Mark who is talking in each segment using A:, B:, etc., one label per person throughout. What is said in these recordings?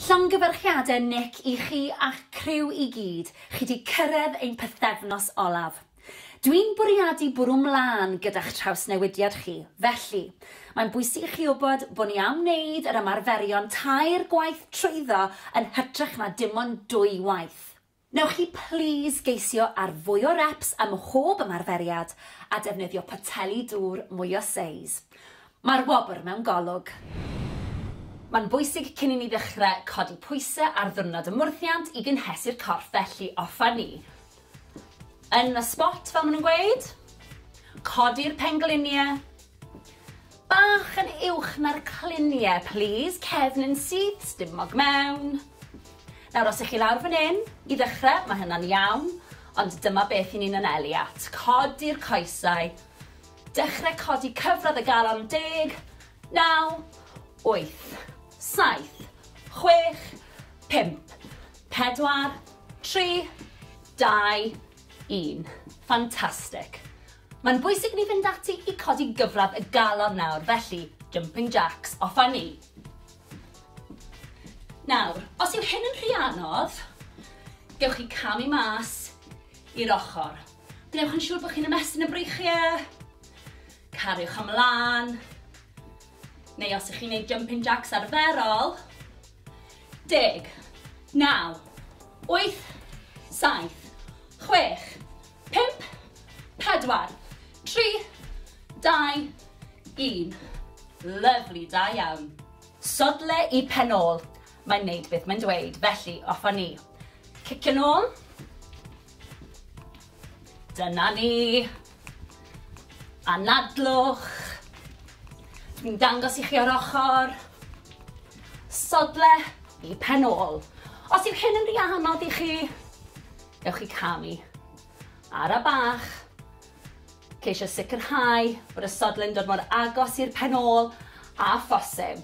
A: Llongyfarchiade Nick i chi a'ch criw i gyd, chi 'di cyrredd ein pythefnos olaf. Dwi'n bwriadu bwrw 'mlân gyda'ch trawsnewidiad chi, felly, mae'n bwysig i chi wybod bo ni am wneud yr ymarferion tair gwaith trwyddo yn hytrach na dim ond dwy waith. Wnewch chi plîs geisio ar fwy o reps ym mhob ymarferiad a defnyddio poteli dŵr mwy o seis. Mae'r wobr mewn golwg. Mae'n bwysig cyn i ni ddechrau codi pwysau ar ddiwrnod y mwrthiant i gynhesu'r corff felly offer ni yn y sbot fel maen nhw'n gweud. Codi'r pengliniau. Bach yn uwch na'r clunie plîs, cefn yn syth, stumog mewn. Nawr os 'ych chi lawr fan 'yn, i ddechre, ma' hynna'n iawn, ond dyma beth 'yn ni'n anelu at, codi'r coesau, dechre codi cyfradd y galon, deg, naw, wyth, saith, chwech, pump, pedwar, tri, dau, un. Fantastic! Mae'n bwysig i ni fynd ati i codi gyfradd y galon nawr, felly jumping jacks, off â ni! Nawr, os yw hyn yn rhy anodd, gewch chi camu mas i'r ochr. Gwnewch yn siŵr bod chi'n ymestyn y breichiau, cariwch ymlaen, neu os ych chi'n gwneud jumping jacks arferol, Deg. Naw. Wyth. Saith. Chwech. Pump. Pedwar. Tri. Dau. Un. Lyfli, da iawn. Sodle i pen ôl. Mae'n neud beth mae'n dweud, felly off a ni. Cicio nôl. Dyna ni. Anadlwch. Dwi'n dangos i chi o'r ochr. Sodle i pen ôl. Os yw hyn yn rhy anodd i chi, ewch i camu. Ara bach. Ceisio sicrhau bod y sodle'n dod mor agos i'r pen ôl a phosib.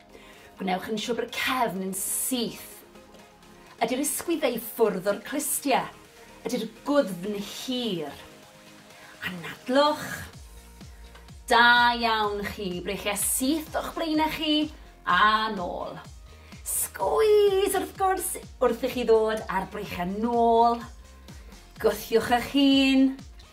A: Gwnewch yn siwr bod y cefn yn syth. Ydy'r ysgwydd ei ffwrdd o'r clustie? Ydy'r gwddfn hir? Anadlwch. Da iawn chi, breichie syth o'ch blaenau chi, a nôl. Sgwîs wrth gwrs wrth i chi ddod a'r breichiau nôl. Gwthiwch eich hun.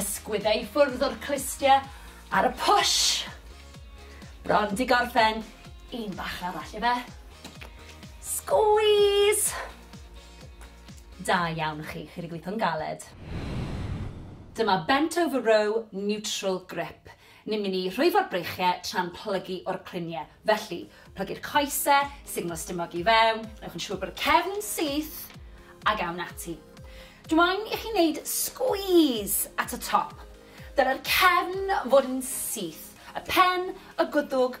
A: Ysgwydde i ffwrdd o'r clustie ar y push. Bron di gorffen. Un bach arall ife. Squeeze! Da iawn chi, chi wedi gweithio'n galed. Dyma bent over row neutral grip. Ni'n mynd i rhwyfo'r breichiau tra'n plygu o'r cluniau. Felly, plygu'r coesau, sugno stumog i fewn, wnewch yn siŵr bod y cefn yn syth, ac awn ati. Dw i'n i chi wneud sgwîs at y top. Dylai'r cefn fod yn syth, y pen, y gwddwg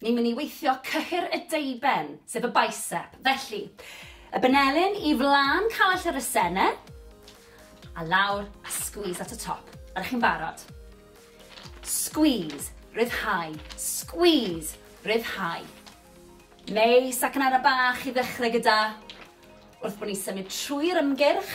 A: Ni'n mynd i weithio cyhyr y deuben, sef y bicep. Felly, y benelin i flan call yr asene, a lawr, a squeeze at y top. Ydych chi'n barod? Squeeze, ryddhau, squeeze, ryddhau. Neis, ac yn ara bach i ddechrau gyda, wrth bod ni'n symud trwy'r ymgyrch,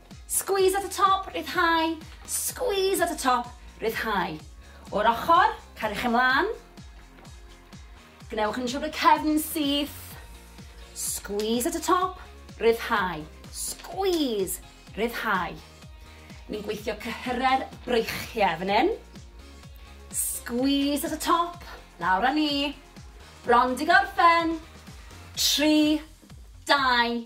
A: Squeeze at y top, rhyddhau, squeeze at y top, rhyddhau. O'r ochr, cariwch ymlaen. Gwnewch yn siŵr bod y cefn yn syth. Squeeze at y top, rhyddhau, squeeze, rhyddhau. Ni'n gweithio cyhyrau'r breichiau fan hyn. Squeeze at y top, lawr â ni. Bron di gorffen. 3, 2,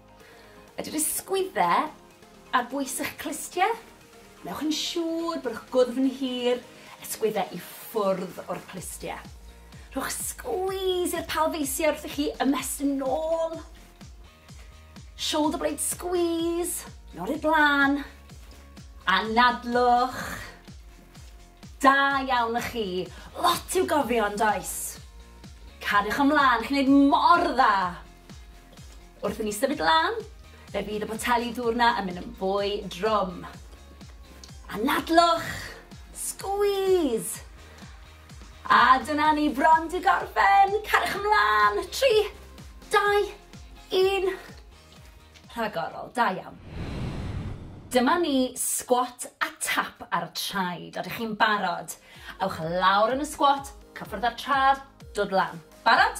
A: Ydy'r ysgwyddau ar bwys eich clustiau? Wnewch yn siŵr bod eich gwddf yn hir, ysgwyddau i ffwrdd o'r clustiau. Rhowch sgwîs i'r palfeisiau wrth i chi ymestyn yn ôl. Shoulder blade squeeze, yn ôl i'r blaen. Anadlwch. Da iawn y chi. Lot i'w gofio yn does? Cariwch ymlaen, chi'n gwneud mor dda. Wrth i ni symud lan, fe fydd y poteli dŵr 'na yn mynd yn fwy drwm. Anadlwch! Squeeze! A dyna ni bron 'di gorffen! Cariwch ymlan! Tri, dau, un. Rhagorol, da iawn. Dyma ni squat a tap ar y traed. Ydych chi'n barod? Ewch lawr yn y squat, cyffwrdd â'r trad, dod lan. Barod?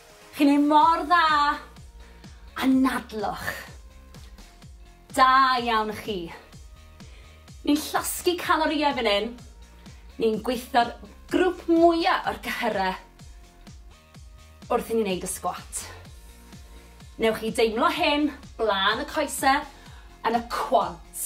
A: Chi'n neud mor dda! Anadlwch! Da iawn chi! Ni'n llosgi calorïau fan hyn, ni'n gweithio'r grwp mwya o'r cyhyrau wrth i ni neud y sgwat. Newch chi deimlo hyn blaen y coese yn y quads.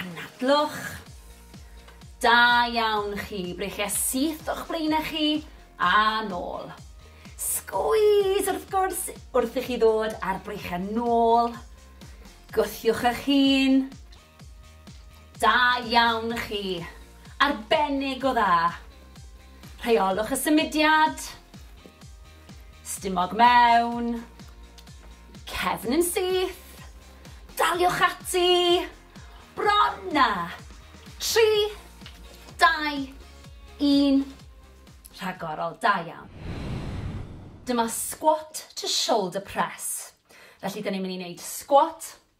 A: Anadlwch. Da iawn chi, breichia syth o'ch blaenau chi a nôl. Sgwîs wrth gwrs wrth i chi ddod a'r breichia nôl. Gwthiwch eich hun. Da iawn chi. Arbennig o dda. Rheolwch y symudiad. Stumog mewn. Cefn yn syth. Daliwch ati. Bron na. 3, 2, 1. Rhagorol, da iawn. Dyma squat to shoulder press. Felly, dyn ni'n mynd i wneud squat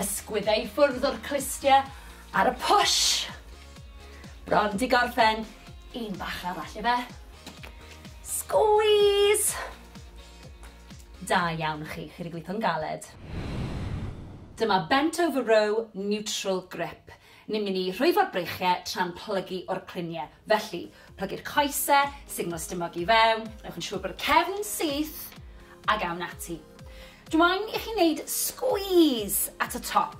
A: Ysgwydde i ffwrdd o'r clustie ar y push. Bron di gorffen. Un bach arall ife. Squeeze! Da iawn chi, chi wedi gweithio'n galed. Dyma bent over row neutral grip. Ni'n mynd i rhwyfo'r breichiau tra'n plygu o'r cluniau. Felly, plygu'r coesau, sugno stumog i fewn, gwnewch yn siŵr bod y cefn yn syth, ac awn ati. Dw i'n i chi wneud sgwîs at y top.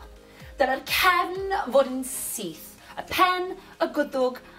A: Dylai'r cefn fod yn syth, y pen, y gwddwg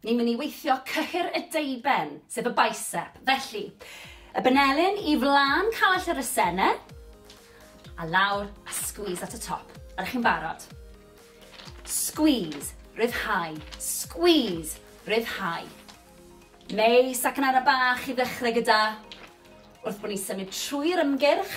A: Ni'n mynd i weithio cyhyr y deuben, sef y bicep. Felly, y benelin i flan call yr asene, a lawr, a squeeze at y top. Ydych chi'n barod? Squeeze, ryddhau, squeeze, ryddhau. Neu sacanara bach i ddechrau gyda, wrth bod ni'n symud trwy'r ymgyrch,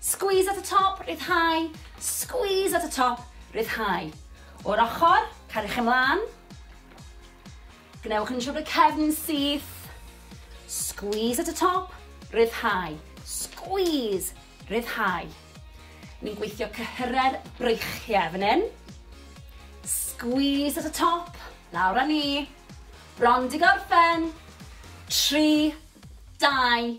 A: Squeeze at the top, rhyddhau, squeeze at the top, rhyddhau. O'r ochr, cariwch ymlaen. Gwnewch yn siŵr bod y cefn yn syth. Squeeze at the top, rhyddhau, squeeze, rhyddhau. Ni'n gweithio cyhyrau'r breichiau fan hyn. Squeeze at the top, lawr â ni. Bron di gorffen. 3, 2,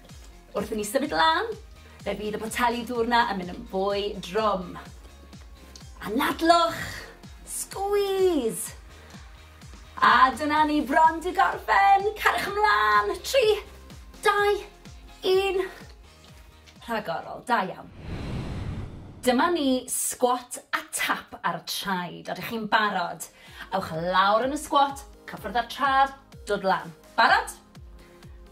A: Wrth i ni symud lan, fe fydd y poteli dŵr 'na yn mynd yn fwy drwm. Anadlwch! Squeeze! A dyna ni bron di gorffen! Cariwch ymlaen! 3, 2, 1. Rhagorol, da iawn. Dyma ni squat a tap ar y traed. Ydych chi'n barod? Ewch lawr yn y squat, cyffwrdd â'r trad, dod lan. Barod?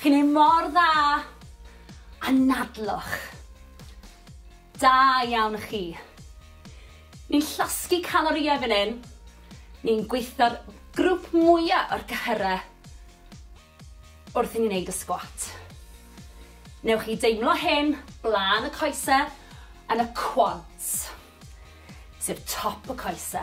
A: Chi'n neud mor dda! Anadlwch! Da iawn chi! Ni'n llosgi calorïau fan hyn, ni'n gweithio'r grwp mwya o'r cyhyrau wrth i ni neud y sgwat. Newch chi deimlo hyn blaen y coese yn y quads, sef top y coese.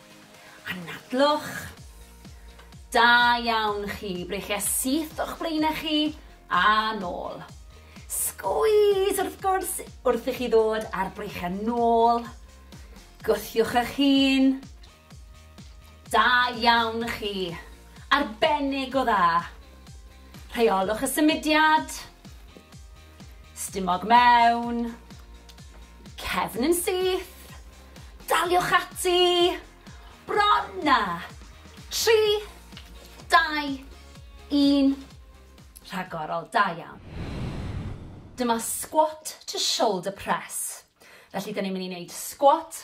A: Anadlwch. Da iawn chi, breichia syth o'ch blaenau chi a nôl. Sgwîs wrth gwrs wrth i chi ddod ar breichia nôl. Gwthiwch eich hun. Da iawn chi. Arbennig o dda. Rheolwch y symudiad. Stumog mewn. Cefn yn syth. Daliwch ati. Bron na. 3, 2, 1. Rhagorol, da iawn. Dyma squat to shoulder press. Felly, dyn ni'n mynd i wneud squat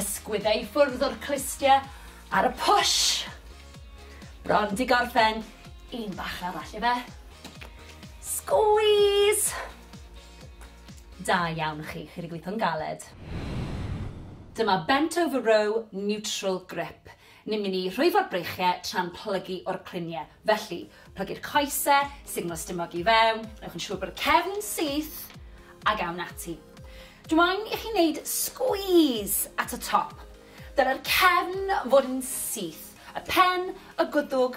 A: Ysgwydda i ffwrdd o'r clustie ar y push. Bron di gorffen. Un bach arall ife. Squeeze! Da iawn chi, chi wedi gweithio'n galed. Dyma bent over row neutral grip. Ni'n mynd i rhwyfo'r breichiau tra'n plygu o'r cluniau. Felly, plygu'r coesau, sugno stumog i fewn, newch yn siŵr bod y cefn yn syth, ac awn ati. Dw i'n i chi wneud sgwîs at y top. Dylai'r cefn fod yn syth, y pen, y gwddwg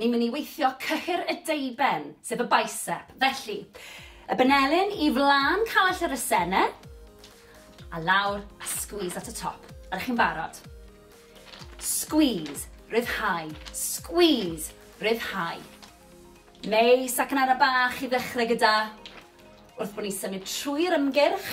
A: Ni'n mynd i weithio cyhyr y deuben, sef y bicep. Felly, y benelin i flan callell yr asene, a lawr, a squeeze at y top. Ydych chi'n barod? Squeeze, ryddhau, squeeze, ryddhau. Neis, ac yn ara bach i ddechrau gyda, wrth bod ni'n symud trwy'r ymgyrch,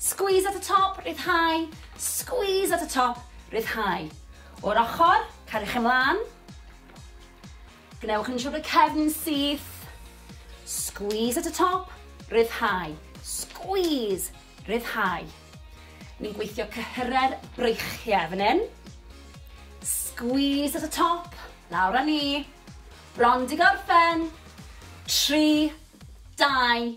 A: Squeeze at y top, rhyddhau, squeeze at y top, rhyddhau. O'r ochr, cariwch ymlaen. Gwnewch yn siŵr bod y cefn yn syth. Squeeze at y top, rhyddhau, squeeze, rhyddhau. Ni'n gweithio cyhyrau'r breichiau fan hyn. Squeeze at y top, lawr â ni. Bron di gorffen. 3, 2,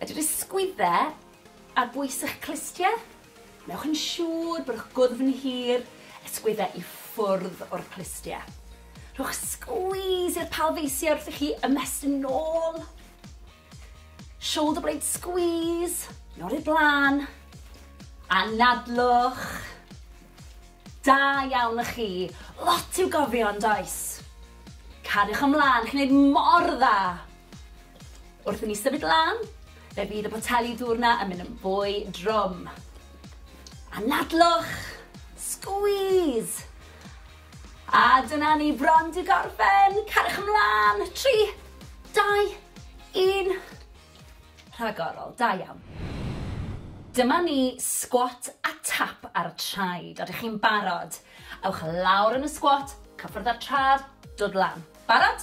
A: Ydy'r ysgwydde ar bwys eich clustie? Wnewch yn siŵr bod eich gwddf yn hir, ysgwydde i ffwrdd o'r clustie. Rhowch squeeze i'r palfeisiau wrth i chi ymestyn nôl. Shoulder blade squeeze, nôl i'r blaen. Anadlwch. Da iawn y chi. Lot i'w gofio yn does? Cariwch ymlaen, chi'n neud mor dda. Wrth i ni symud lan, fe fydd y poteli dŵr 'na yn mynd yn fwy drwm. Anadlwch! Squeeze! A dyna ni bron 'di gorffen! Cariwch ymlan! Tri, dau, un. Rhagorol, da iawn. Dyma ni squat a tap ar y traed. Ydych chi'n barod? Ewch lawr yn y squat, cyffwrdd â'r trad, dod lan. Barod?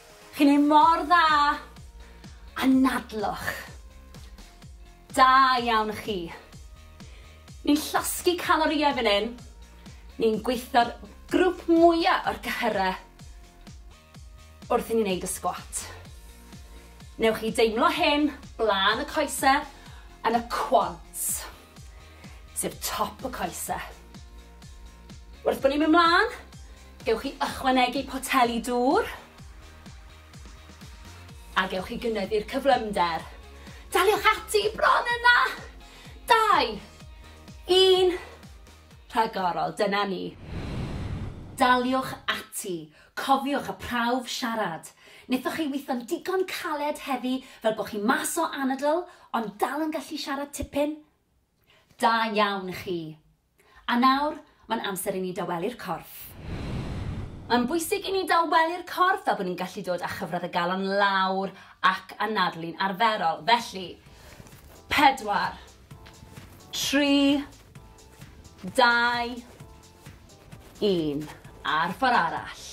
A: Chi'n neud mor dda! Anadlwch! Da iawn chi! Ni'n llosgi calorïau fan hyn, ni'n gweithio'r grwp mwya o'r cyhyrau wrth i ni neud y sgwat. Newch chi deimlo hyn blaen y coese yn y quads. sef top y coese. Wrth bod ni'n mynd mlaen, gewch chi ychwanegu poteli dŵr a gewch chi gynyddu'r cyflymder. Daliwch ati bron yna! Dau, un, rhagorol, dyna ni. Daliwch ati, Cofiwch y prawf siarad. Nethoch chi witho'n digon caled heddi fel bo chi mas o anadl ond dal yn gallu siarad tipyn? Da iawn chi! A nawr, mae'n amser i ni dawelu'r corff. Mae'n bwysig i ni dawelu'r corff fel bod ni'n gallu dod â chyfradd y galon lawr ac anadlu'n arferol. Felly, pedwar, tri, dau, Un. Ar ffor arall.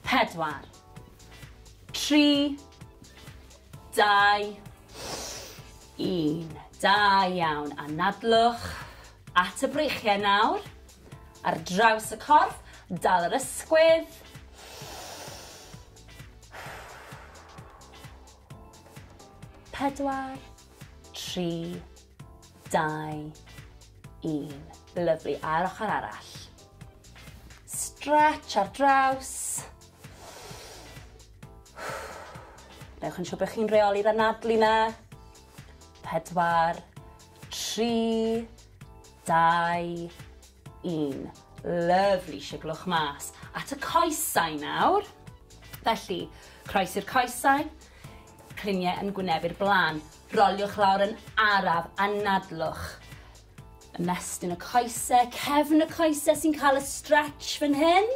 A: Pedwar. Tri. Dau. Un. Da iawn. Anadlwch at y breichiau nawr. Ar draws y corff. Dal yr ysgwydd. Pedwar. Tri. dau, un. Lyfli, a'r ochr arall. Stretch ar draws. Newch yn siŵr bod chi'n reoli'r anadlu na. Pedwar, tri, dau, un. Lyfli, siglwch mas. At y coesau nawr. Felly, croesi'r coesau, criniau yn gwnebu'r blaen. Roliwch lawr yn araf a nadlwch. Ymestyn y coese, cefn y coese sy'n cael y stretch fan hyn.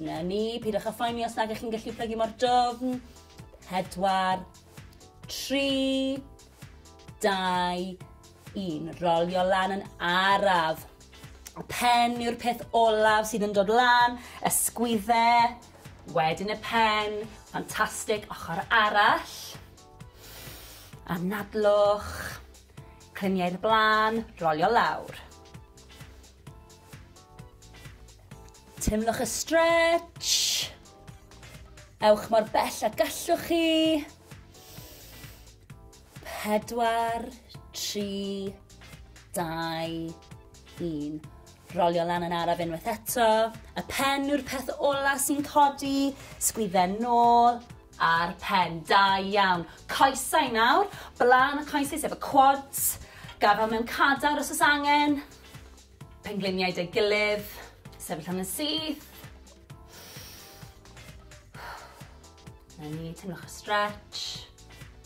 A: Na ni, pidwch a phoeni os nag ych chi'n gallu plygu mor dofn. Pedwar, tri, dau, Un, rolio lan yn araf. Y pen yw'r peth olaf sydd yn dod lan, y sgwydde, wedyn y pen, ffantastig, ochr arall. Anadlwch, climiau i'r blaen, rolio lawr. Teimlwch y stretch. Ewch mor bell a gallwch chi. 4, 3, 2, 1. Rolio lan yn araf unwaith eto. Y pen yw'r peth ola sy'n codi. Sgwydden nôl a'r pen. Da iawn. Coesau nawr. Blaen y coesau sef y quads. Gafel mewn cadar os oes angen. Pengliniau dy gilydd. Sefyll am yn syth. Na ni, teimlwch y stretch.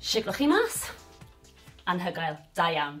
A: Shwt 'ych chi mas? Anhygoel. Da iawn.